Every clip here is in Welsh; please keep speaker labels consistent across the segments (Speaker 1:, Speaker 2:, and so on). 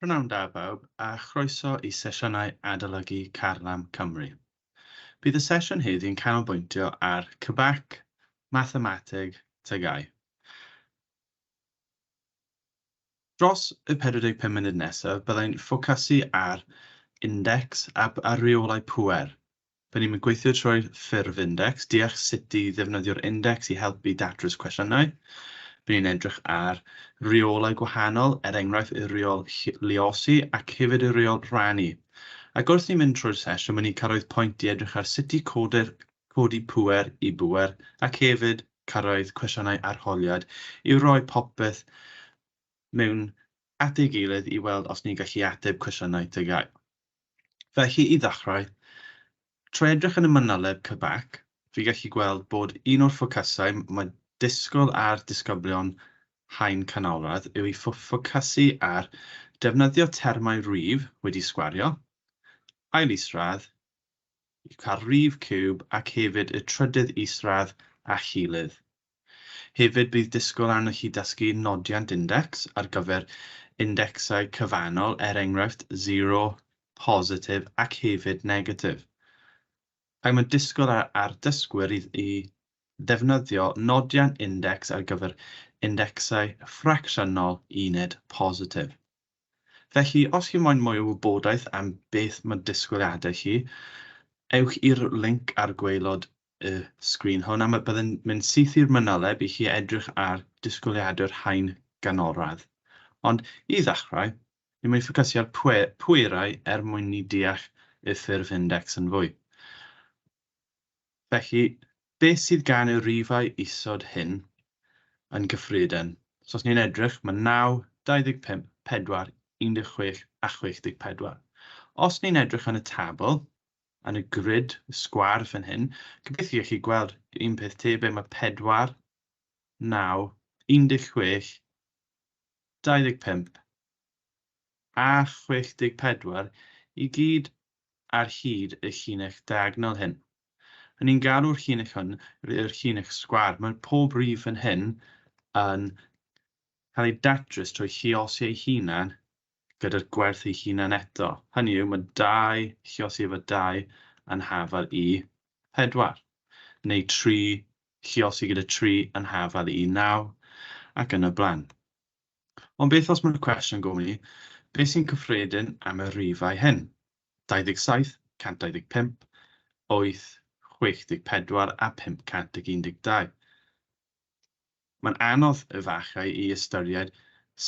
Speaker 1: P'nawn da bawb a chroeso i sesiynau Adolygu Carlam Cymru. Bydd y sesiwn heddi yn canolbwyntio ar CBAC, Mathemateg, TGAU. Dros y 45 munud nesaf byddai'n ffocasu ar indecs a, a reolau pŵer Pan ni'n gweithio trwy'r ffurf index, deall sut i ddefnyddio'r index i helpu i datrys cwestiynau. By ni'n edrych ar reolau gwahanol, er enghraifft y reol luosi ac hefyd y reol rhannu. Ac wrth ni'n mynd trwy'r sesiwn, by ni'n cyrraedd pwynt i edrych ar sut i codi'r, codi pŵer i bŵer ac hefyd cyrraedd cwestiynau arholiad i roi popeth mewn at ei gilydd i weld os ni'n gallu ateb cwestiynau TGAU. Felly, i ddechrau, trwy edrych yn y manyleb CBAC, fi'n gallu gweld bod un o'r ffocysau mae disgwyl ar disgyblion haen canolradd yw i ffocysu ar defnyddio termau rif wedi sgwario, ail isradd, y rif ciwb ac hefyd y trydydd isradd a chilydd. Hefyd bydd disgwyl arnoch chi dysgu nodiant index ar gyfer indecsau cyfannol er enghraifft zero, positif ac hefyd negatif. Ac mae'n disgwyl ar ar dysgwyr i i ddefnyddio nodiant index ar gyfer indecsau ffracsiynol uned positif. Felly os chi moyn mwy o wybodaeth am beth mae disgwyliadau chi, ewch i'r linc ar gwaelod y sgrin hwn, a byddwn mynd syth i'r mynoleb i chi edrych ar disgwyliadau'r haen ganolradd. Ond, i ddechrau, ni'n mynd i ffocysu ar pwe, pwerau er mwyn ni deall y ffurf index yn fwy. Felly, beth sydd gan y rifau isod hyn yn gyffredin? So os ni'n edrych, mae 9, 25, 4, 16 a 64. Os ni'n edrych yn y tabl, yn y grid sgwâr fan hyn. Gobeithio i chi gweld un peth tebyg, mae 4, 9, 16, 25 a 64 i gyd ar hyd y llinell diagonal hyn. Yn ni'n galw'r llinell hwn yr llinell sgwâr. Mae pob rif fan hyn yn cael ei datrys trwy lluosi ei hunan gyda'r gwerth ei hunan eto, hynny yw, mae dau lluosi efo dau anhafal i pedwar, neu tri lluosi gyda tri anhafal i naw, ac yn y blaen. Ond beth os mae'r cwestiwn gofyn i, beth sy'n cyffredin am y rifau hyn? 27, 125, 8, 64 a 512. Mae'n anodd efallai i ystyried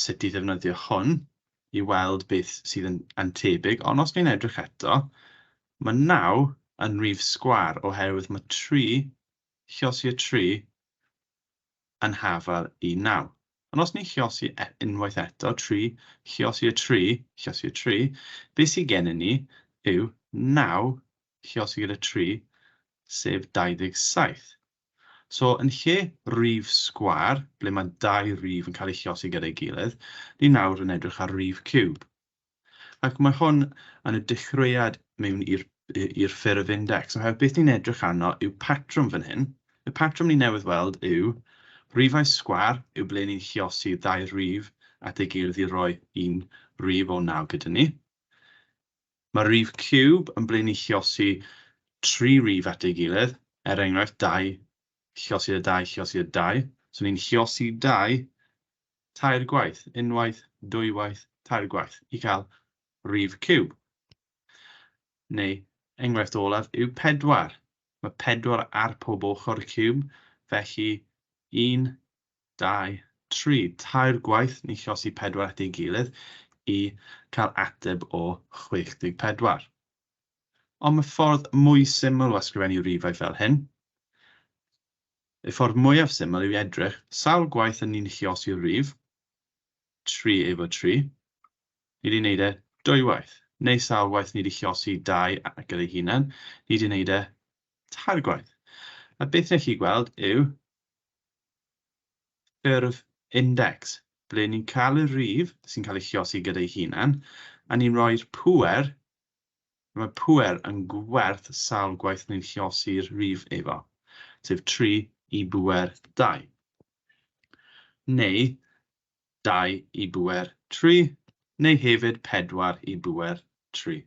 Speaker 1: sut i ddefnyddio hwn i weld beth sydd yn yn tebyg, ond os ni'n edrych eto, mae naw yn rif sgwâr oherwydd mae tri, llosi y tri, yn hafal i naw. Ond os ni'n llosi e- unwaith eto, tri, llosi y tri, llosi y tri, beth sydd gennym ni yw naw llosi gyda tri, sef 27. So, yn lle rif sgwâr, ble mae dau rif yn cael eu llosi gyda'i gilydd, ni nawr yn edrych ar rif ciwb. Ac mae hwn yn y dechreuad mewn i'r i'r ffurf index. Oherwydd beth ni'n edrych arno yw patrwm fan hyn. Y patrwm ni newydd weld yw rifau sgwâr yw ble ni'n llosi ddau rif at ei gilydd i roi un rif o naw gyda ni. Mae rif ciwb yn blaenilluosi tri rif at ei gilydd, er enghraifft, 2, lluosi y 2, lluosi y 2. So ni'n lluosi 2 tair gwaith, unwaith, dwywaith, tair gwaith, i cael rif ciwb. Neu, enghraifft olaf yw 4. Mae 4 ar pob ochr y ciwb, felly 1, dau, tri, tair gwaith ni chosi pedwar at ei gilydd i cael ateb o 64. Ond mae ffordd mwy syml o ysgrifennu rifau fel hyn. Y ffordd mwyaf syml yw i edrych sawl gwaith yn ni'n chiosi rif tri efo tri. Ni di wneud e dwywaith. Neu sawl waith ni di chiosi dau gyda'i hunan, ni di wneud e tair gwaith. A beth nech chi gweld yw ffurf index, ble ni'n cael y rhif sy'n cael ei chiosi gyda'i hunan, a ni'n rhoi'r pŵer, a mae pŵer yn gwerth sawl gwaith ni'n chiosi'r rhif efo, sef 3 i bŵer 2, neu 2 i bŵer 3, neu hefyd 4 i bŵer 3.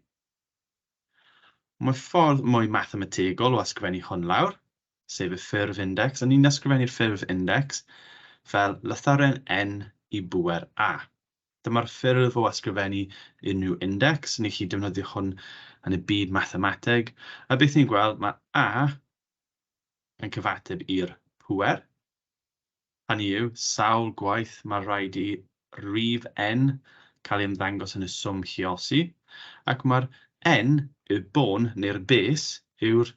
Speaker 1: Mae ffordd mwy mathemategol o ysgrifennu hwn lawr, sef y ffurf indecs, a ni'n ysgrifennu'r ffurf indecs fel lythyren N i bŵer A. Dyma'r ffurf o ysgrifennu unrhyw indecs, ni'n gallu defnyddio hwn yn y byd mathemateg, a beth ni'n gweld, mae A yn cyfateb i'r pŵer, Hynny yw, sawl gwaith mae rhaid i rif N cael ei ymddangos yn y swm lluosi, ac mae'r N, y bôn neu'r bes, yw'r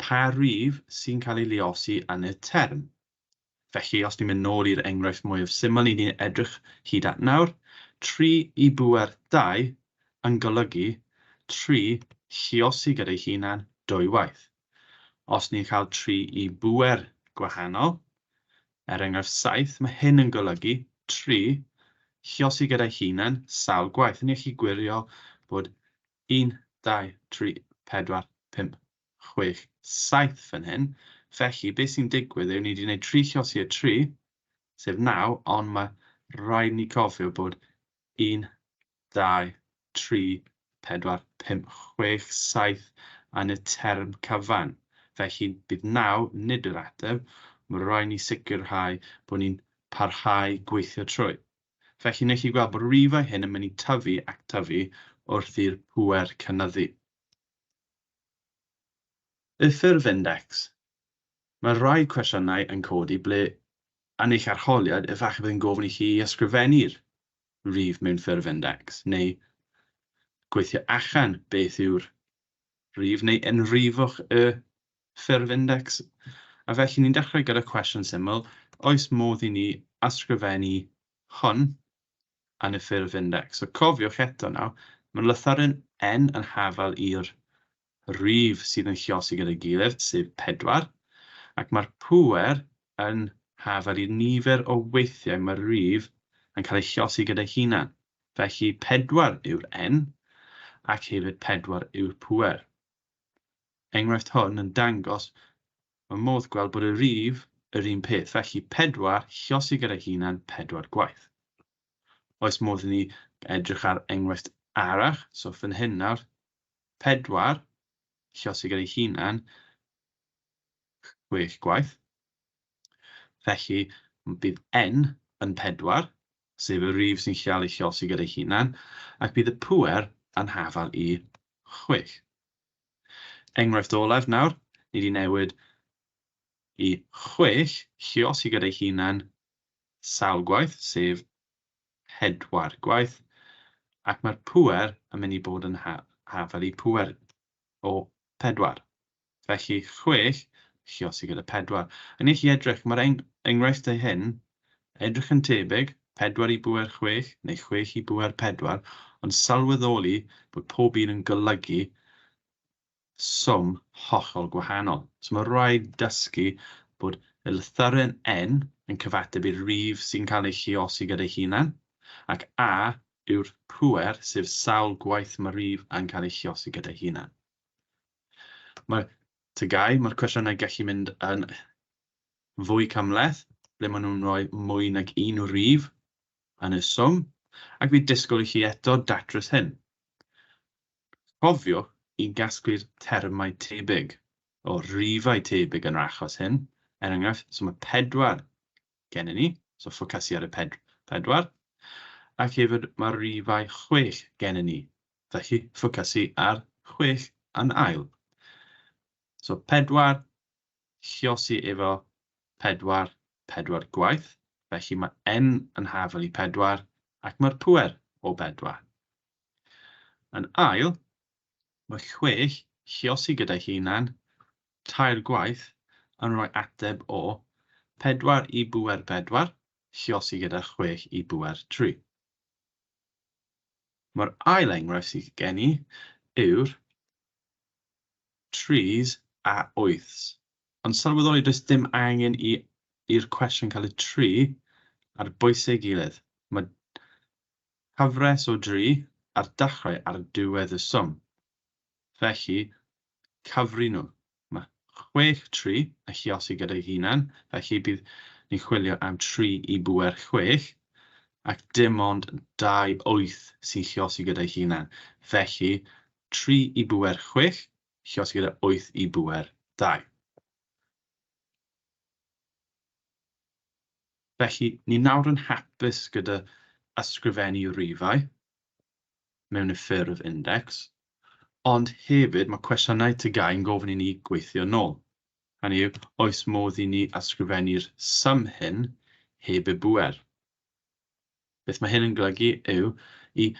Speaker 1: pa rif sy'n cael ei luosi yn y term. Felly, os ni'n mynd nôl i'r enghraifft mwyaf syml ni 'di edrych hyd at nawr, tri i bŵer dau yn golygu tri lluosi gyda'i hunan dwy waith. Os ni'n cael tri i bŵer gwahanol, er enghraifft saith, mae hyn yn golygu, tri, lluosi gyda'i hunan sawl gwaith. Ni'n gallu gwirio bod un, dau, tri, pedwar, pump, chwech, saith fan hyn. Felly, beth sy'n digwydd yw ni wedi gwneud tri lluosi o tri, sef naw, ond mae rhaid ni cofio bod un, dau, tri, pedwar, pump, chwech, saith yn y term cyfan. Felly, bydd naw nid yr ateb, mae'n rhaid ni sicrhau bod ni'n parhau gweithio trwy. Felly, wnewch chi weld bod rifau hyn yn mynd i tyfu ac tyfu wrth i'r pŵer cynyddu. Y ffurf index. Mae rhai cwestiynau yn codi ble yn eich arholiad efallai bydd yn gofyn i chi i ysgrifennu'r rif mewn ffurf index, neu gweithio allan beth yw'r rif, neu enwrifwch y ffurf index. A felly ni'n dechrau gyda cwestiwn syml, oes modd i ni ysgrifennu hwn yn y ffurf index? So cofiwch eto nawr, mae lythyren N yn hafal i'r rif sydd yn lluosi gyda'i gilydd, sef pedwar, ac mae'r pŵer yn hafel i'r nifer o weithiau mae'r rif yn cael ei lluosi gyda'i hunan. Felly, pedwar yw'r N, ac hefyd pedwar yw'r pŵer. Enghraifft hwn yn dangos fy modd gweld bod y rif yr un peth, felly pedwar lluosi gyda'i hunan pedwar gwaith. Oes modd i ni edrych ar enghraifft arall, so fan hyn nawr, 4, llosgi gan ei hunan, chwech gwaith. Felly, bydd N yn 4, sef y rif sy'n cael ei llosgi gan ei hunan, ac bydd y pŵer yn hafal i chwech. Enghraifft olaf nawr, ni di newid i chwech llosgi gan ei hunan sawl gwaith, sef pedwar gwaith, ac mae'r pŵer yn mynd i bod yn haf fel y pŵer o pedwar. Felly, chwech, chi os chi gyda pedwar. A wnewch chi edrych, mae'r enghraifftau hyn edrych yn tebyg, pedwar i bŵer chwech, neu chwech i bŵer pedwar, ond sylweddoli bod pob un yn golygu swm hollol gwahanol. So mae'n rhaid dysgu bod y lythyren 'n' yn cyfateb i'r rif sy'n cael ei lluosi gyda'i hunan, ac 'a' yw'r pŵer, sef sawl gwaith mae'r rif 'a'n' cael ei lluosi gyda'i hunan. Mae'r TGAU, mae'r cwestiynau gallu mynd yn fwy cymhleth, ble maen nhw'n rhoi mwy nag un rif yn y swm, ac fi disgwyl i chi eto datrys hyn. Cofiwch i gasglu'r termau tebyg o rifau tebyg yn yr achos hyn, er enghraifft, so mae pedwar gennym ni, so ffocysu ar y pedwar, ac hefyd mae rifau chwech gennym ni, felly ffocysu ar chwech yn ail. So pedwar, lluosi efo pedwar, pedwar gwaith, felly mae n yn hafel i pedwar ac mae'r pŵer o bedwar. Yn ail, mae chwech chiosi gyda'i hunan, tair gwaith, yn rhoi ateb o, pedwar i bŵer pedwar, chiosi gyda chwech i bŵer tri. Mae'r ail enghraifft sydd gen i yw'r tris a wyths. Ond sylweddoli does dim angen i i'r cwestiwn cael ei tri ar bwysau ei gilydd. Mae Cyfres o dri ar dachrau ar ddiwedd y swm. Felly, cyfri nhw. Mae chwech tri yn lluosi gyda'i hunan, felly bydd ni'n chwilio am tri i bŵer chwech, ac dim ond dau wyth sy'n lluosi gyda'i hunan. Felly, tri i bŵer chwech, lluosi gyda wyth i bŵer dau. Felly, ni nawr yn hapus gyda ysgrifennu rifau mewn y ffurf index, ond hefyd mae cwestiynau TGAU yn gofyn i ni gweithio yn ôl, hynny yw, oes modd i ni ysgrifennu'r sum hyn heb y bŵer? Beth mae hyn yn golygu yw i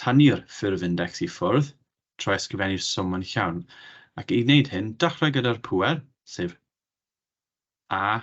Speaker 1: tynnu'r ffurf index i ffwrdd trwy ysgrifennu'r swm yn llawn, ac i wneud hyn, dechrau gyda'r pŵer, sef A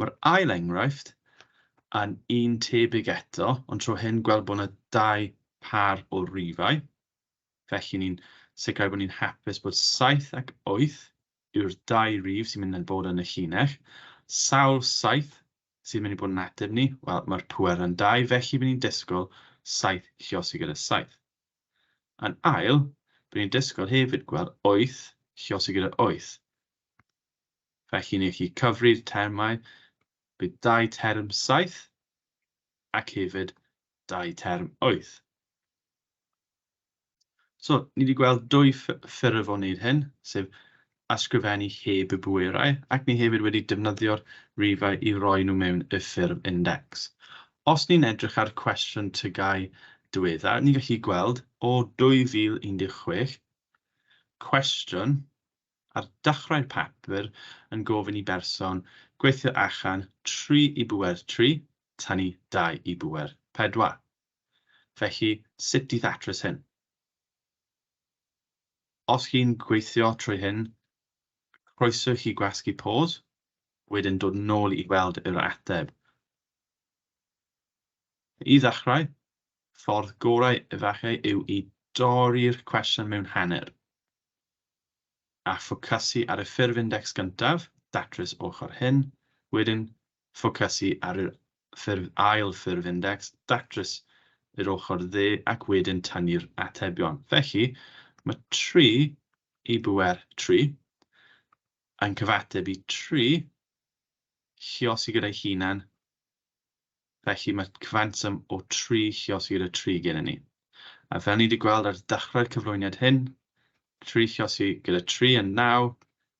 Speaker 1: Mae'r ail enghraifft yn un tebyg eto, ond tro hyn gweld bod yna dau phâr o rifau. Felly ni'n sicrhau bod ni'n hapus bod 7 ac 8 yw'r dau rif sy'n mynd yn bod yn y llinell. Sawl 7 sy'n mynd i bod yn ateb ni? Wel, mae'r pŵer yn 2, felly bydd ni'n disgwyl 7 lliosi gyda 7. Yn ail, bydd ni'n disgwyl hefyd gweld 8 lliosi gyda 8. Felly, ni allu cyfri'r termau, bydd dau term saith ac hefyd dau term wyth. So, ni wedi gweld dwy ffurf o wneud hyn, sef ysgrifennu heb y bwerau, ac ni hefyd wedi defnyddio'r rifau i roi nhw mewn y ffurf index. Os ni'n edrych ar cwestiwn tygau diweddar, ni'n gallu gweld o 2016, cwestiwn ar dechrau'r papur yn gofyn i berson gweithio achan 3 i bŵer 3, tynnu 2 i bŵer 4. Felly, sut i ddatrys hyn? Os chi'n gweithio trwy hyn, croeso i chi gwasgu pause, wedyn dod nôl i weld yr ateb. I ddechrau, ffordd gorau efallai yw i dorri'r cwestiwn mewn hanner. a ffocysu ar y ffurf indecs gyntaf, datrys ochr hyn, wedyn ffocysu ar yr ffurf ail ffurf indecs, datrys yr ochr dde ac wedyn tynnu'r atebion. Felly, mae 3 i bŵer 3 yn cyfateb i 3 lluosi gyda'i hunan Felly mae cwfantum o tri Lluosir y tri gennym ni. A fel ni wedi gweld ar ddechrau'r cyflwyniad hyn, tri Lluosir gyda tri yn naw,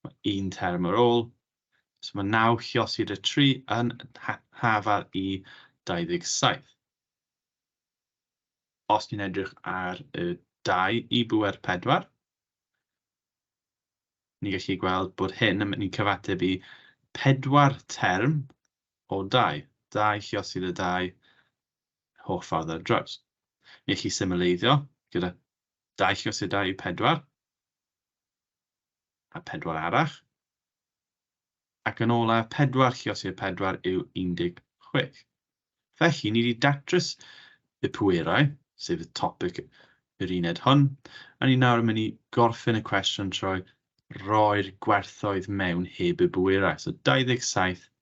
Speaker 1: mae un term ar ôl, so mae naw Lluosir y tri yn hafal i 27. Os ni'n edrych ar y dau i bŵer pedwar, ni'n gallu gweld bod hyn yn mynd i'n cyfateb i pedwar term o dai, dai lluosog a dai holl ffordd ar draws. Ni allu symleiddio gyda dai lluosog a dai pedwar, a pedwar arall, ac yn ola pedwar lluosog a pedwar yw 16. Felly, ni wedi datrys y pwerau, sef y topic yr uned hwn, a ni nawr yn mynd i gorffen y cwestiwn trwy roi'r gwerthoedd mewn heb y bwerau. So 27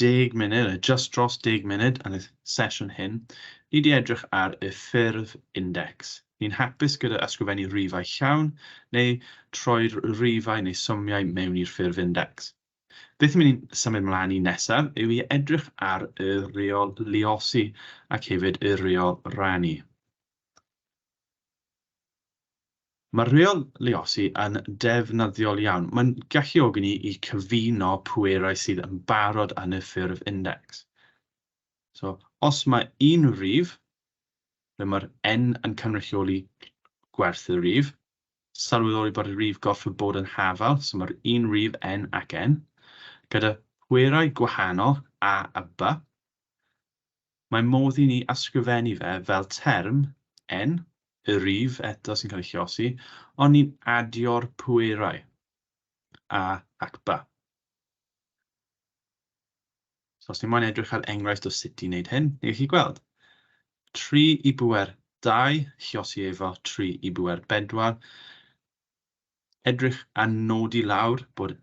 Speaker 1: deg munud, neu jyst dros deg munud yn y sesiwn hyn, ni 'di edrych ar y ffurf index. Ni'n hapus gyda ysgrifennu rifau llawn, neu troi'r rifau neu symiau mewn i'r ffurf index. Beth ni'n mynd i symud mlaen i nesaf yw i edrych ar y reol luosi ac hefyd y reol rannu. Mae'r rheoleosi yn defnyddiol iawn. Mae'n galluogi ni i cyfuno pwerau sydd yn barod yn y ffurf indecs. So, os mae un rif, ble mae'r n yn cynrychioli gwerth y rif, sylweddoli bod y rif gorfod bod yn hafal, so mae'r un rif n ac n, gyda phwerau gwahanol a a b, Mae modd i ni ysgrifennu fe fel term, en, y rif eto sy'n cael ei llosi, ond ni'n adio'r pwerau, a ac ba. So os ni moyn edrych ar enghraifft o sut i wneud hyn, ni'n gallu gweld. 3 i bwer 2, llosi efo 3 i bwer 4, edrych a nodi lawr bod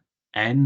Speaker 1: en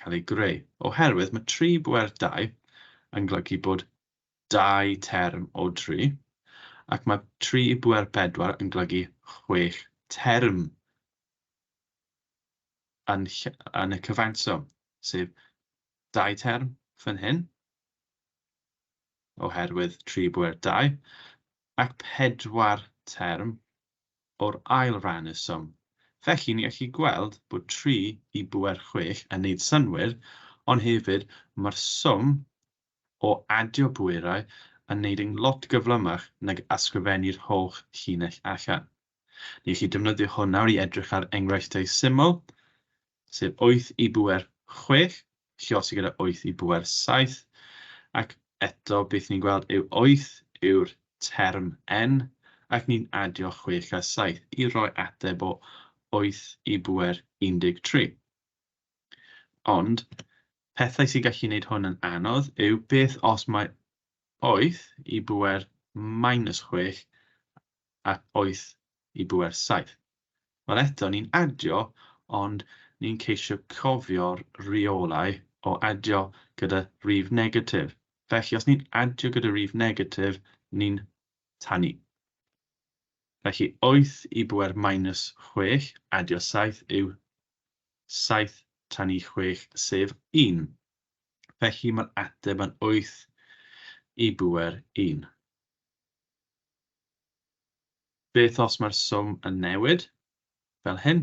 Speaker 1: cael ei greu, oherwydd mae tri bwer dau yn golygu bod dau term o dri, ac mae tri bwer pedwar yn golygu chwech term yn, yn y cyfanswm, sef dau term fan hyn, oherwydd tri bwer dau, ac pedwar term o'r ail ran y swm. Felly, ni allu gweld bod 3 i bŵer 6 yn neud synnwyr, ond hefyd mae'r swm o adio pwerau yn neud yn lot gyflymach nag ysgrifennu'r holl llinell allan. Ni allu defnyddio hwn nawr i edrych ar enghreifftiau syml, sef wyth i bŵer chwech, lluosog sy gyda wyth i bŵer saith, ac eto beth ni'n gweld yw wyth yw'r term n, ac ni'n adio chwech a saith i roi ateb o wyth i bŵer 13. Ond, pethau sy'n gallu gwneud hwn yn anodd yw beth os mae wyth i bŵer minus chwech ac wyth i bŵer saith. Wel eto, ni'n adio ond ni'n ceisio cofio'r rheolau o adio gyda rif negatif. Felly os ni'n adio gyda rif negatif, ni'n tannu. Felly wyth i bŵer minus chwech, adio saith, yw saith tannu chwech, sef un. Felly mae'r ateb yn wyth i bŵer un. Beth os mae'r swm yn newid? Fel hyn,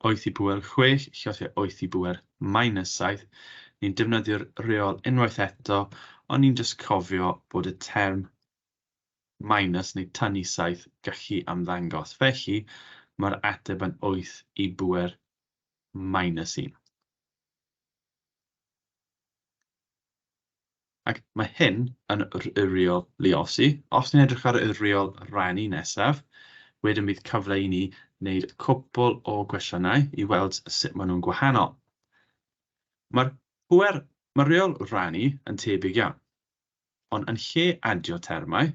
Speaker 1: wyth i bŵer chwech llosgi'r wyth i bŵer minus saith, ni'n defnyddio'r reol unwaith eto, ond ni'n jyst cofio bod y term minus neu tynnu saith gallu ymddangos. Felly, mae'r ateb yn wyth i bŵer minus un. Ac mae hyn yn yr uriol luosi. Os ni'n edrych ar uriol rhannu nesaf, wedyn bydd cyfle i ni wneud cwpl o gwestiynau i weld sut maen nhw'n gwahanol. Mae'r pŵer, mae'r uriol rhannu yn tebyg iawn, ond yn lle adio termau,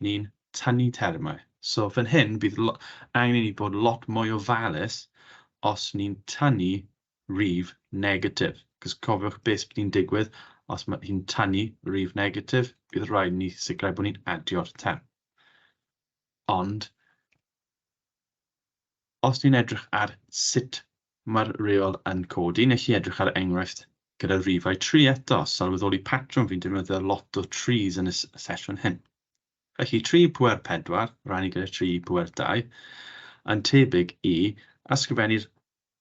Speaker 1: ni'n tynnu termau. So fan hyn bydd angen i ni bod lot mwy ofalus os ni'n tynnu rif negatif. Cos cofiwch beth sydd wedi'n digwydd os mae hi'n tanu rif negatif, bydd rhaid ni sicrhau bod ni'n adio'r term. Ond, os ni'n edrych ar sut mae'r reol yn codi, nes i edrych ar enghraifft gyda rifau tri eto, sylweddoli patrwm fi'n defnyddio lot o trees yn y sesiwn hyn. Felly 3 i pwer 4, rannu gyda 3 i pwer 2, yn tebyg i ysgrifennu'r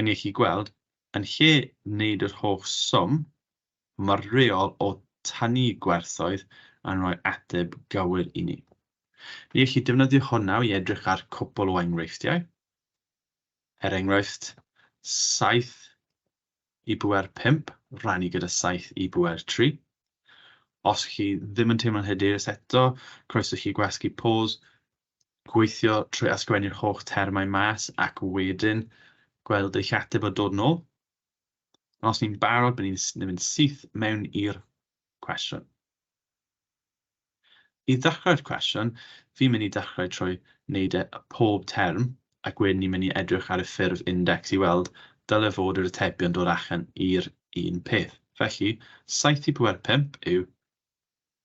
Speaker 1: Yn ei chi gweld, yn lle wneud yr holl swm murriol o tynnu gwerthoedd yn rhoi ateb gywir i ni. Ni all chi defnyddio hwn nawr i edrych ar cwpl o enghreifftiau. Er enghraifft, 7 i bŵer 5 rannu gyda 7 i bŵer 3. Os chi ddim yn teimlo'n hyderus eto, croeso chi gwasgu pause gweithio trwy ysgrifennu'r holl termau mas ac wedyn gweld eich ateb o dod nôl. Ond os ni'n barod, bydd ni'n mynd syth mewn i'r cwestiwn. I ddechrau'r cwestiwn, fi'n mynd i dechrau trwy wneud e pob term, ac wedyn ni'n mynd i edrych ar y ffurf index i weld dyle fod yr atebion dod allan i'r un peth. Felly, 7 i 4 5 yw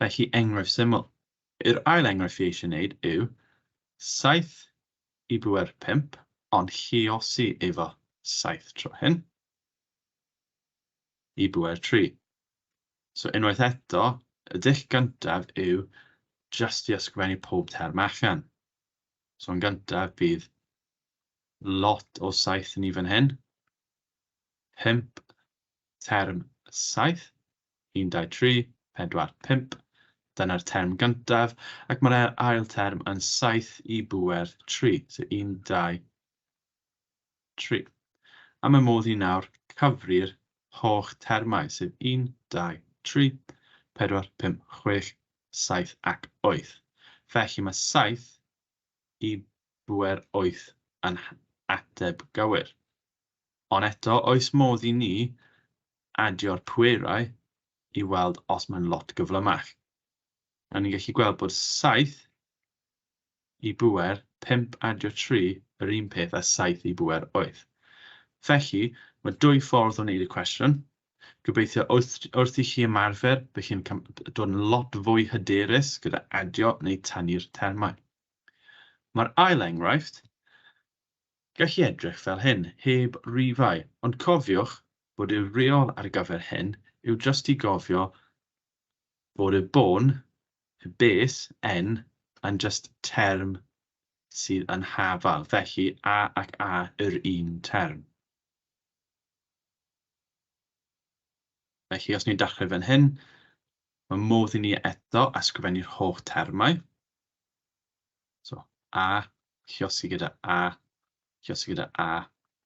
Speaker 1: Felly, enghraifft syml. Yr ail enghraifft fi eisiau wneud yw 7 i bŵer 5, ond lluosi efo 7 tro hyn i bŵer 3. So unwaith eto, y dull gyntaf yw jyst i ysgrifennu pob term allan. So yn gyntaf bydd lot o 7 ni fan hyn, 5 term 7, Un, dau, tri, pedwar, pump. Dyna'r term gyntaf, ac mae'r ail term yn saith i bŵer tri. So un, dau, tri. A mae modd i nawr cyfri'r holl termau, sef un, dau, tri, pedwar, pump, chwech, saith ac wyth. Felly mae saith i bŵer wyth yn ateb gywir. Ond eto, oes modd i ni adio'r pwerau i weld os mae'n lot gyflymach. A ni'n gallu gweld bod 7 i bwer 5 adio 3 yr un peth a 7 i bwer 8. Felly, mae dwy ffordd o wneud y cwestiwn. Gobeithio wrth, wrth i chi ymarfer, bydd chi'n dod yn lot fwy hyderus gyda adio neu tanu'r termau. Mae'r ail enghraifft gallu edrych fel hyn, heb rifau, ond cofiwch bod y reol ar gyfer hyn yw jyst i gofio bod y bôn, y bes, en, yn jyst term sydd yn hafal, felly a ac a yr un term. Felly os ni'n dechrau fan hyn, mae modd i ni eto ysgrifennu'r holl termau. So, a, llosi gyda a, llosi gyda a,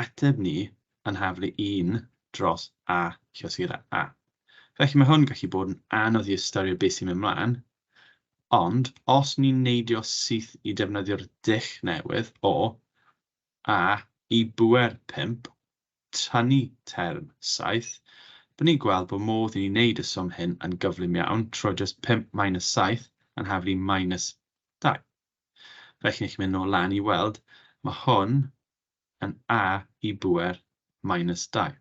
Speaker 1: ateb ni yn nhaflu un dros A llythyrau A. Felly mae hwn yn gallu bod yn anodd i ystyried beth sy'n mynd mlaen, ond os ni'n neidio syth i defnyddio'r dull newydd o A i bŵer 5, tynnu term 7, byddwn ni'n gweld bod modd i ni wneud y swm hyn yn gyflym iawn trwy jyst 5 minus 7 yn nhaflu minus 2. Felly, chi'n gallu mynd nôl lan i weld, mae hwn yn a i bŵer minus 2.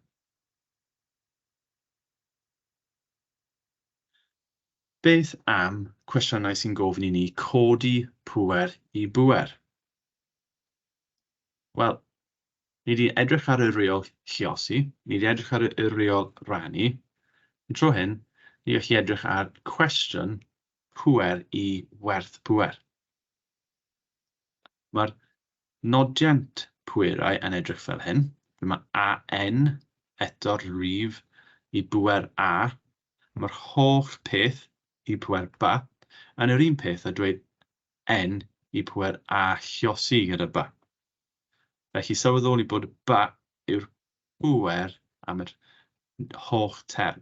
Speaker 1: Beth am cwestiynau sy'n gofyn i ni codi pŵer i bŵer? Wel, ni wedi edrych ar y reol lliosi, ni wedi edrych ar y reol rannu. Yn tro hyn, ni wedi edrych ar cwestiwn pŵer i werth pŵer. Mae'r nodiant pwerau yn edrych fel hyn, lle mae AN eto'r rif i bŵer A, mae'r holl peth i pŵer ba, yn yr un peth â dweud N i pŵer A lluos I gyda ba. Felly sylweddoli bod ba yw'r pŵer am yr holl term.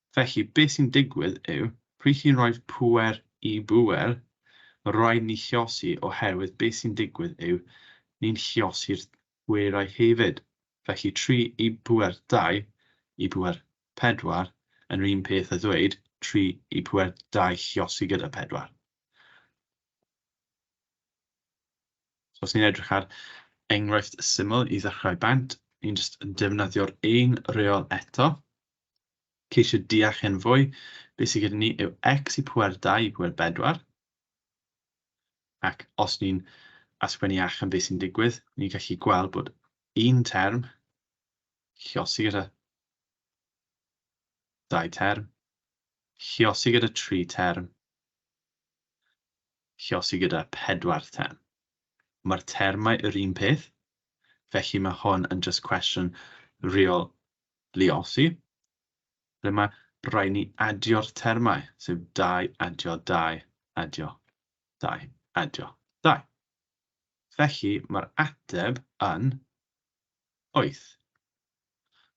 Speaker 1: Felly, beth sy'n digwydd yw, pryd chi'n rhoi pŵer i bŵer, mae'n rhaid ni chiosi oherwydd beth sy'n digwydd yw, ni'n chiosi'r pwerau hefyd. Felly, tri i pŵer dau i pŵer pedwar yn yr un peth â ddweud tri i pŵer dau chiosi gyda pedwar. So, os ni'n edrych ar enghraifft syml i ddechrau bant, ni'n jyst yn defnyddio'r un reol eto. Ceisio deall hyn fwy, beth sydd gyda ni yw x i pwer 2 i pwer 4, ac os ni'n asgwennu allan beth sy'n digwydd, ni'n gallu gweld bod un term lliosi gyda dau term, lliosi gyda tri term, lliosi gyda pedwar term. Mae'r termau yr un peth, felly mae hwn yn just cwestiwn real Lluosi, ble mae rhaid ni adio'r termau, sef dau adio dau adio dau adio dau. Felly mae'r ateb yn wyth.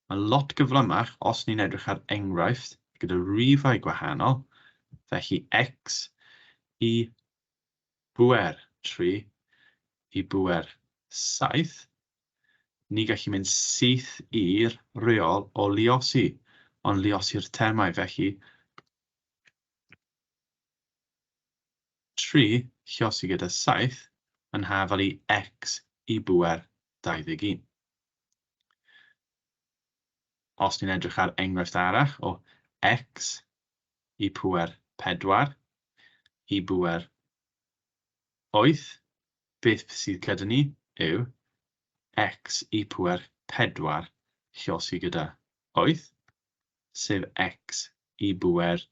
Speaker 1: Mae'n lot gyflymach os ni'n edrych ar enghraifft gyda rifau gwahanol, felly x i bŵer tri i bŵer saith, Ni gallu mynd syth i'r rheol o luosi, ond luosi'r termau, felly, tri lluosi gyda saith yn hafal i x i bŵer 21. Os ni'n edrych ar enghraifft arall o x i pŵer 4 i bŵer 8, Beth sydd gyda ni yw x i pŵer 4 llosgi gyda 8, sef x i bŵer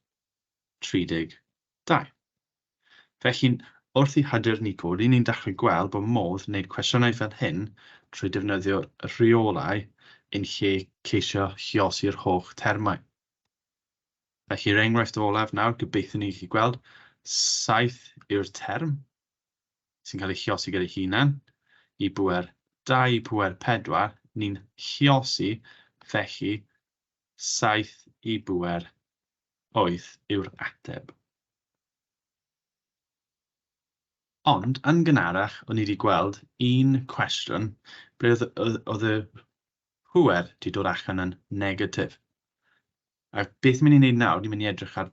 Speaker 1: 32. Felly, wrth i hyder ni godi, ni'n dechrau gweld bod modd gwneud cwestiynau fel hyn trwy defnyddio rheolau yn lle ceisio llosgi'r holl termau. Felly, yr enghraifft olaf nawr, gobeithio ni chi gweld, 7 yw'r term sy'n cael ei chiosi gyda'i hunan, i bŵer 2, pŵer 4, ni'n chiosi, felly 7 i bŵer 8 yw'r ateb. Ond, yn gynharach, o'n i wedi gweld un cwestiwn ble oedd y pŵer wedi dod allan yn negatif. A beth ni'n mynd i wneud nawr, ni'n mynd i edrych ar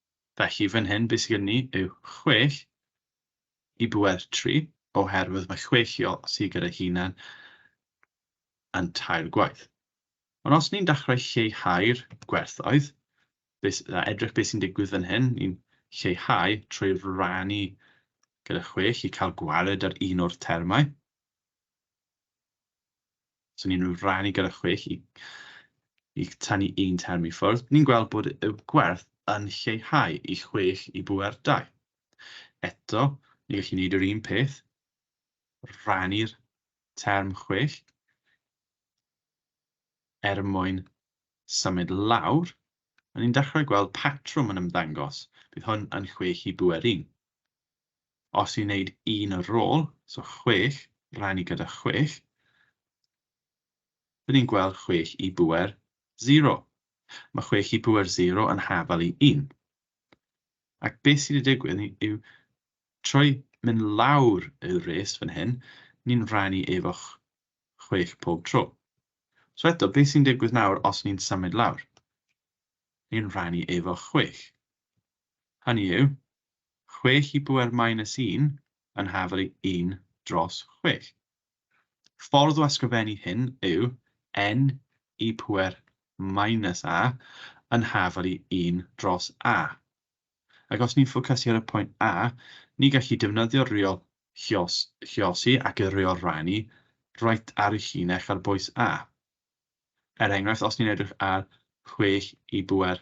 Speaker 1: Felly fan hyn be sydd gen ni yw chwech i bwer tri, oherwydd mae chwech i osi gyda'i hunan yn tair gwaith. Ond os ni'n dechrau lleihau'r gwerthoedd, a edrych beth sy'n digwydd fan hyn, ni'n lleihau trwy rannu gyda chwech i cael gwared ar un o'r termau. Os o'n unrhyw ran i gyda chwech i i tynnu un term i ffwrdd, ni'n gweld bod y gwerth yn lleihau i chwech i bŵer dau. Eto, ni gallu gwneud yr un peth, rannu'r term chwech er mwyn symud lawr, a ni'n dechrau gweld patrwm yn ymddangos, bydd hwn yn chwech i bŵer un. Os i'n wneud un o'r rôl, so chwech, rhannu gyda chwech, rydyn ni'n gweld chwech i bŵer zero. Mae chwech i bŵer zero yn hafal i un. Ac beth sydd wedi digwydd yw, trwy mynd lawr y res fan hyn, ni'n rhannu efo chwech pob tro. So eto, beth sy'n digwydd nawr os ni'n symud lawr? Ni'n rhannu efo chwech. hynny yw, chwech i bŵer minus un yn hafel i un dros chwech. Ffordd o ysgrifennu hyn yw n i pŵer minus a yn hafel i un dros a. Ac os ni'n ffocysu ar y pwynt a, ni gallu defnyddio'r reol chios, chiosi ac y reol rannu reit ar y llinell ar bwys a. Er enghraifft, os ni'n edrych ar chwech i bŵer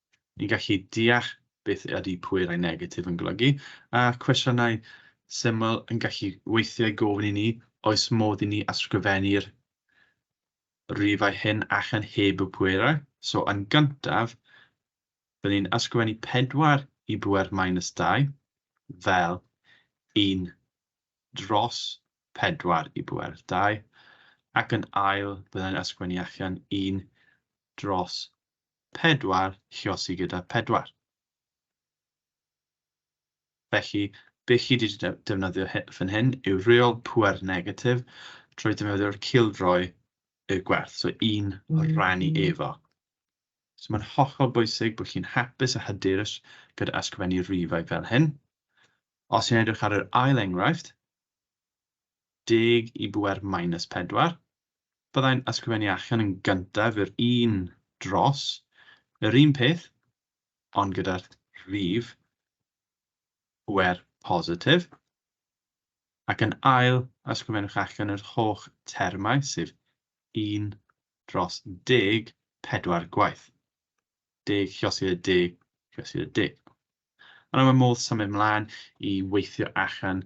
Speaker 1: Ni'n gallu deall beth ydy pwerau negatif yn golygu, a cwestiynau syml yn gallu weithiau gofyn i ni oes modd i ni ysgrifennu'r rifau hyn allan heb y pwerau. So, yn gyntaf, byddwn ni'n ysgrifennu 4 i bŵer minus 2 fel 1 dros 4 i bŵer 2, ac yn ail, byddwn ni'n ysgrifennu allan 1 dros pedwar lluosi gyda pedwar. Felly, be chi wedi defnyddio fan hyn yw reol pŵer negatif trwy defnyddio'r cildroi y gwerth, so un rannu efo. So mae'n hollol bwysig bod chi'n hapus a hyderus gyda ysgrifennu rifau fel hyn. Os i'n edrych ar yr ail enghraifft, 10 i bŵer minus 4, byddai'n ysgrifennu allan yn gyntaf yr un dros yr un peth, ond gyda'r rhif pŵer positif, ac yn ail, ysgrifennwch allan yr holl termau, sef 1 dros 10, pedwar gwaith. 10 llosir y 10 llosir y 10. Yna mae modd symud mlaen i weithio allan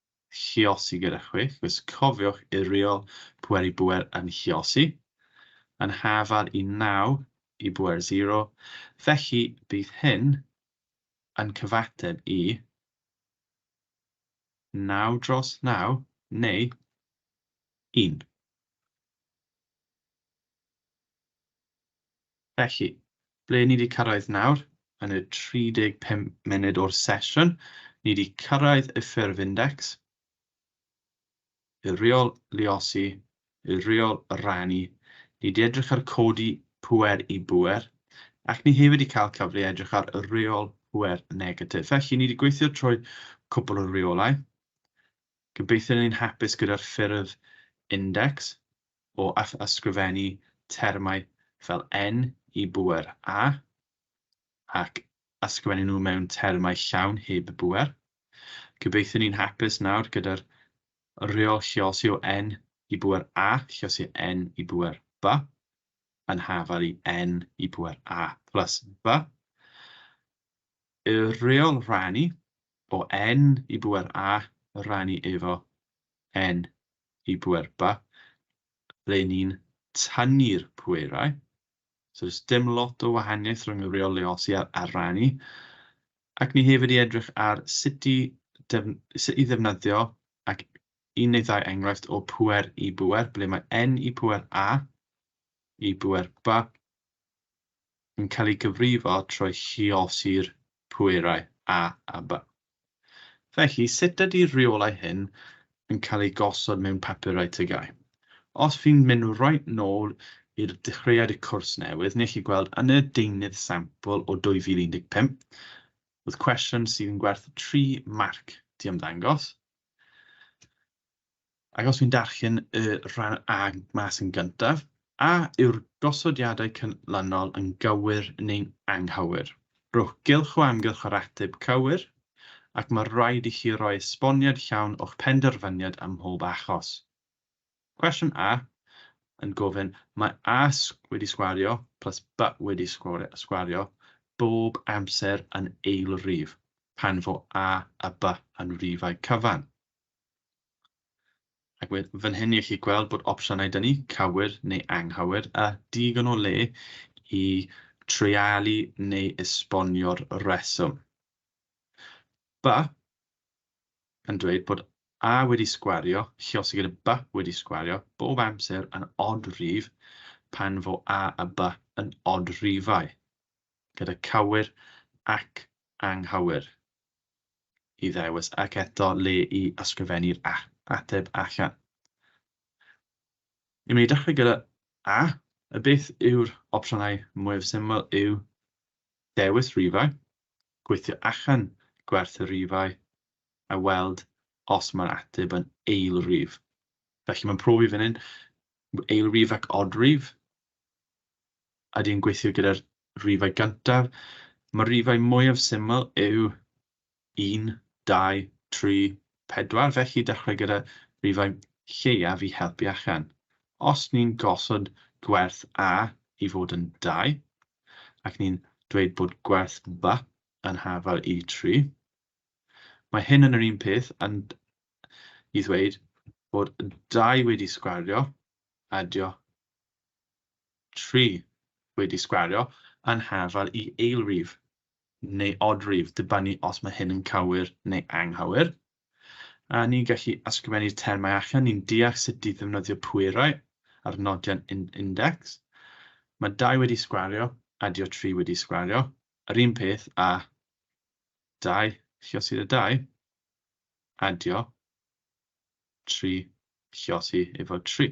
Speaker 1: Chiosi gyda chwi, cos cofiwch iriol pwer i bwer yn chiosi, yn hafal i naw i bwer zero, felly bydd hyn yn cyfateb i naw dros naw, neu un. Felly, ble ni 'di cyrraedd nawr? Yn y 35 munud o'r sesiwn, ni 'di cyrraedd y ffurf index, y rheol luosi, y rheol rannu, ni 'di edrych ar codi pŵer i bŵer, ac ni hefyd 'di cael cyfle i edrych ar reol pŵer negatif. Felly, ni 'di gweithio trwy cwpl o reolau. Gobeithio ni'n hapus gyda'r ffurf index. o ysgrifennu termau fel en i bŵer a ac ysgrifennu nhw mewn termau llawn heb bŵer. Gobeithiwn ni'n hapus nawr gyda'r rheol llosio en i bŵer a llosio en i bŵer b yn hafal i en i bŵer a plus b. Y rheol rhannu o en i bŵer a rannu efo en i bwerba ble ni'n tynnu'r pwerau. So does dim lot o wahaniaeth rhwng y reol leosi a'r a'r rannu. Ac ni hefyd i edrych ar sut i def- sut i ddefnyddio ac un neu ddau enghraifft o pwer i bwer ble mae n i pwer a i bwer ba yn cael ei gyfrifo trwy lluosi'r pwerau a aba. Felly, sut ydy'r rheolau hyn yn cael eu gosod mewn papurau tygau? Os fi'n mynd reit nôl i'r dechreuad y cwrs newydd, nech chi gweld yn y deunydd sampl o 2015, oedd cwestiwn sydd yn gwerth tri marc 'di ymddangos. Ac os fi'n darllen y rhan A mas yn gyntaf, a yw'r gosodiadau canlynol yn gywir neu'n anghywir? Rhowch gylch o amgylch yr ateb cywir, ac mae'n rhaid i chi roi esboniad llawn o'ch penderfyniad ym mhob achos. Cwestiwn A yn gofyn, mae A wedi sgwario plus B wedi sgwario bob amser yn eilrif pan fo A a B yn rifau cyfan. Ac we- fan hyn i chi gweld bod opsiynau dyn ni, cywir neu anghywir, a digon o le i treialu neu esbonio'r rheswm. By yn dweud bod a wedi sgwario, lluosog gyda by wedi sgwario, bob amser yn odd rhif pan fo a a by yn odd rhifau, gyda cywir ac anghywir. i ddewis ac eto le i ysgrifennu'r ateb allan. I mynd i dechrau gyda A, y beth yw'r opsiynau mwyaf syml yw dewis rifau, gweithio allan gwerth y rifau a weld os mae'r ateb yn eilrif. Felly mae'n profi fan hyn, eilrif ac odrif, a dwi'n gweithio gyda'r rifau gyntaf, mae'r rifau mwyaf syml yw 1, 2, 3, 4, felly dechrau gyda rifau lleiaf i helpu allan. Os ni'n gosod gwerth A i fod yn 2, ac ni'n dweud bod gwerth B yn hafal i 3, mae hyn yn yr un peth yn i ddweud bod 2 wedi sgwario, adio, tri wedi sgwario yn hafal i eilrif neu odrif, dibynnu os mae hyn yn cywir neu anghywir. A ni'n gallu ysgrifennu'r termau allan, ni'n deall sut i ddefnyddio pwerau a'r nodion index. Mae dau wedi sgwario, adio tri wedi sgwario, yr un peth a dau, llosir y dau, adio tri, llosi efo tri.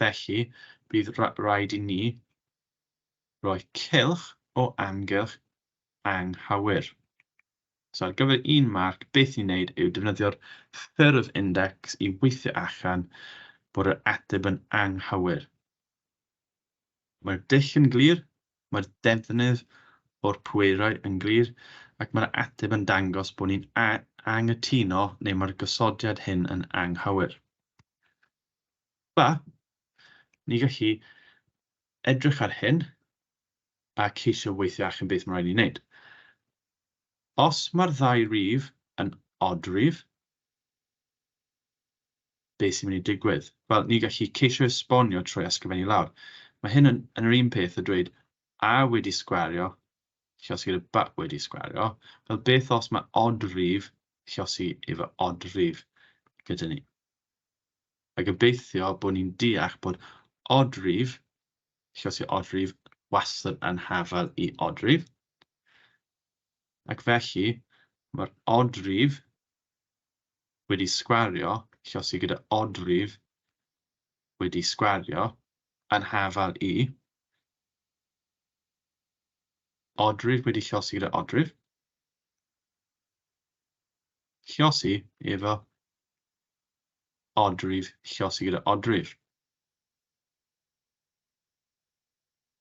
Speaker 1: Felly, bydd rhaid i ni roi cylch o amgylch anghywir. So ar gyfer un marc, beth ni'n neud yw defnyddio'r ffurf index i weithio allan bod yr ateb yn anghywir. Mae'r dull yn glir, mae'r defnydd o'r pwerau yn glir, ac mae'r ateb yn dangos bod ni'n anghytuno neu mae'r gosodiad hyn yn anghywir. Ba, ni gallu edrych ar hyn a ceisio weithio allan beth mae'n rhaid ni wneud. Os mae'r ddau rif yn odrif, beth sy'n mynd i digwydd? Wel, ni gallu ceisio esbonio trwy ysgrifennu lawr. Mae hyn yn, yn yr un peth a dweud a wedi sgwario llosi gyda ba wedi sgwario. Wel, beth os mae odrif llosi efo odrif gyda ni? a gobeithio bod ni'n deall bod odrif, lle os yw odrif wastad yn hafal i odrif, ac felly mae'r odrif wedi sgwario, lle os yw gyda odrif wedi sgwario, yn hafal i odrif wedi llosi gyda odrif, llosi efo odrif, llosi gyda odrif.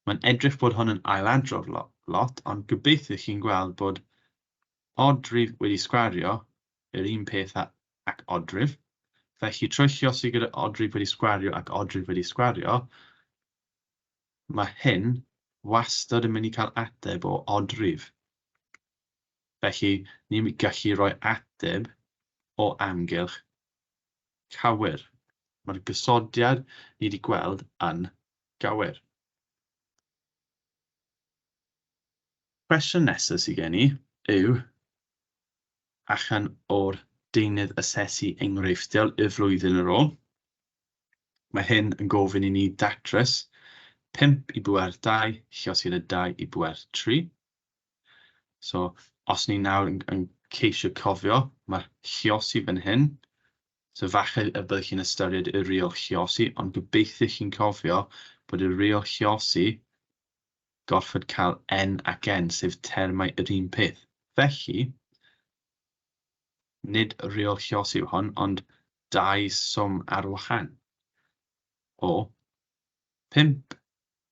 Speaker 1: Mae'n edrych bod hwn yn ailadrodd lot, ond gobeithio chi'n gweld bod odrif wedi sgwario yr un peth ac odrif. Felly, trwy llosi gyda odrif wedi sgwario ac odrif wedi sgwario, mae hyn wastad yn mynd i cael ateb o odrif. Felly, ni'n gallu rhoi ateb o amgylch cywir. Mae'r gosodiad ni wedi gweld yn gywir. Cwestiwn nesaf sydd gen i yw, allan o'r deunydd asesu enghreifftiol i'r flwyddyn ar ôl, mae hyn yn gofyn i ni datrys 5 i bŵer 2, lluosog 2 i bŵer 3. So, os ni nawr yn, yn ceisio cofio, mae Chiosi fan hyn. So falle y byddwch chi'n ystyried y reol Chiosi, ond gobeithio chi'n cofio bod y reol Chiosi gorfod cael N ac N, sef termau yr un peth. Felly, nid reol Chiosi yw hon, ond dau swm ar wahân o 5.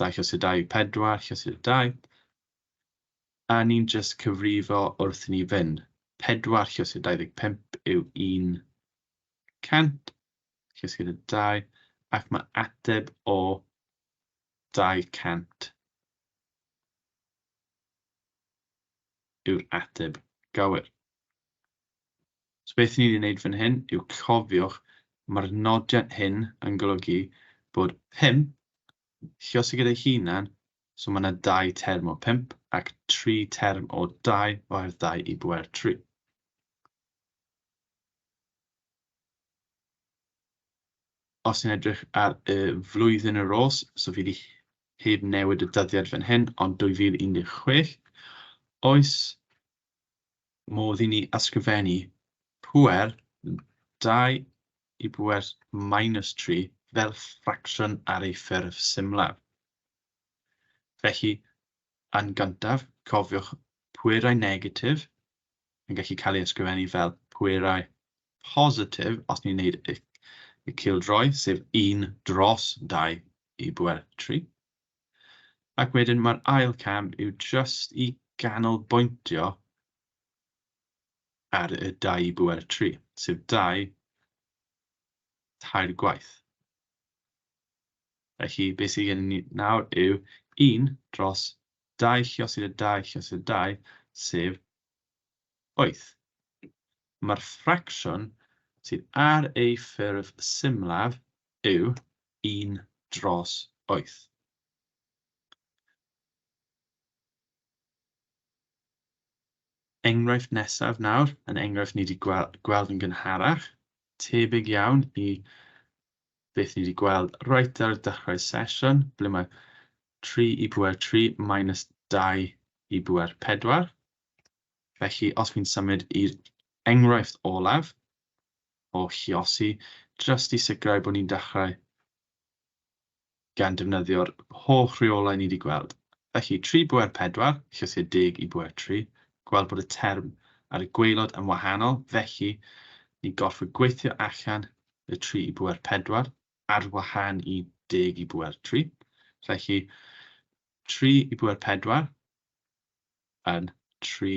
Speaker 1: dau chysur dau yw pedwar chysur dau. A ni'n just cyfrifo wrth i ni fynd. Pedwar chysur 25 yw 100 chysur y dau, ac mae ateb o 200 yw'r ateb gywir. So beth ni 'di wneud fan hyn yw cofiwch mae'r nodiad hyn yn golygu bod 5 lluosog gyda'i hunan, so mae yna dau term o 5 ac tri term o 2 oherwydd 2 i bwer 3. Os ni'n edrych ar y flwyddyn yr ôl, so fi wedi heb newid y dyddiad fan hyn, ond 2016, oes modd i ni ysgrifennu pŵer 2 i bŵer minus 3 fel ffracsiwn ar ei ffurf symlaf. Felly, yn gyntaf, cofiwch pwerau negatif yn gallu cael ei ysgrifennu fel pwerau positif os ni'n gwneud y cildroi, sef 1 dros 2 i bŵer 3. Ac wedyn mae'r ail cam yw jyst i ganolbwyntio ar y dau i byw ar y tri, sef dau tair gwaith. Felly, beth sydd gen ni nawr yw 1 dros 2 lluosyd a 2 lluosyd a 2, sef 8. Mae'r ffracsiwn sydd ar ei ffurf symlaf yw un dros wyth. Enghraifft nesaf nawr, yn enghraifft ni wedi gweld, gweld yn gynharach, tebyg iawn i beth ni wedi gweld reit ar y dechrau sesiwn, ble mae 3 i bwer 3 minus 2 i bwer 4. Felly, os fi'n symud i'r enghraifft olaf, o chiosi jyst i sicrhau bod ni'n dechrau gan defnyddio'r holl reolau ni wedi gweld. Felly, tri bŵer pedwar, llysiau deg i bŵer tri, gweld bod y term ar y gwaelod yn wahanol, felly ni'n gorfod gweithio allan y tri i bŵer pedwar ar wahân i deg i bŵer tri. Felly, tri i bŵer pedwar yn tri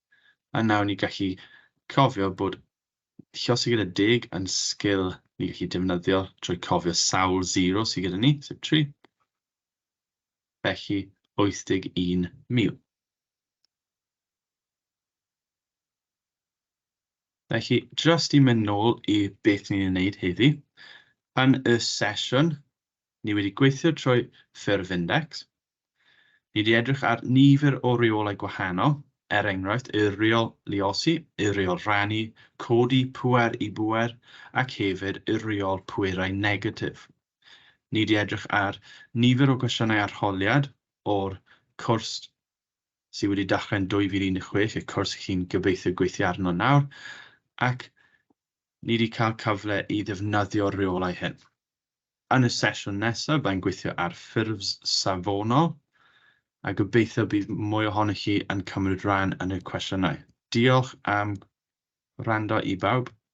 Speaker 1: A nawr ni'n gallu cofio bod llosgi gyda deg yn sgil ni'n gallu defnyddio trwy cofio sawl zero sydd gyda ni, sef 3. Felly, 81,000. Felly, just i mynd nôl i beth ni'n ei wneud heddi, yn y sesiwn, ni wedi gweithio trwy ffurf index, Ni wedi edrych ar nifer o reolau gwahanol, er enghraifft y Rheol Luosi, y Rheol Rhannu, Codi Pŵer i Bŵer ac hefyd y Rheol Pwerau Negatif. Ni wedi edrych ar nifer o gwestiynau arholiad o'r cwrs sydd wedi dechrau yn 2016, y cwrs chi'n gobeithio gweithio arno nawr, ac ni wedi cael cyfle i ddefnyddio'r rheolau hyn. Yn y sesiwn nesaf, byddai'n gweithio ar ffurfs safonol, a gobeithio bydd mwy ohonoch chi yn cymryd rhan yn y cwestiynau. Diolch am wrando i bawb.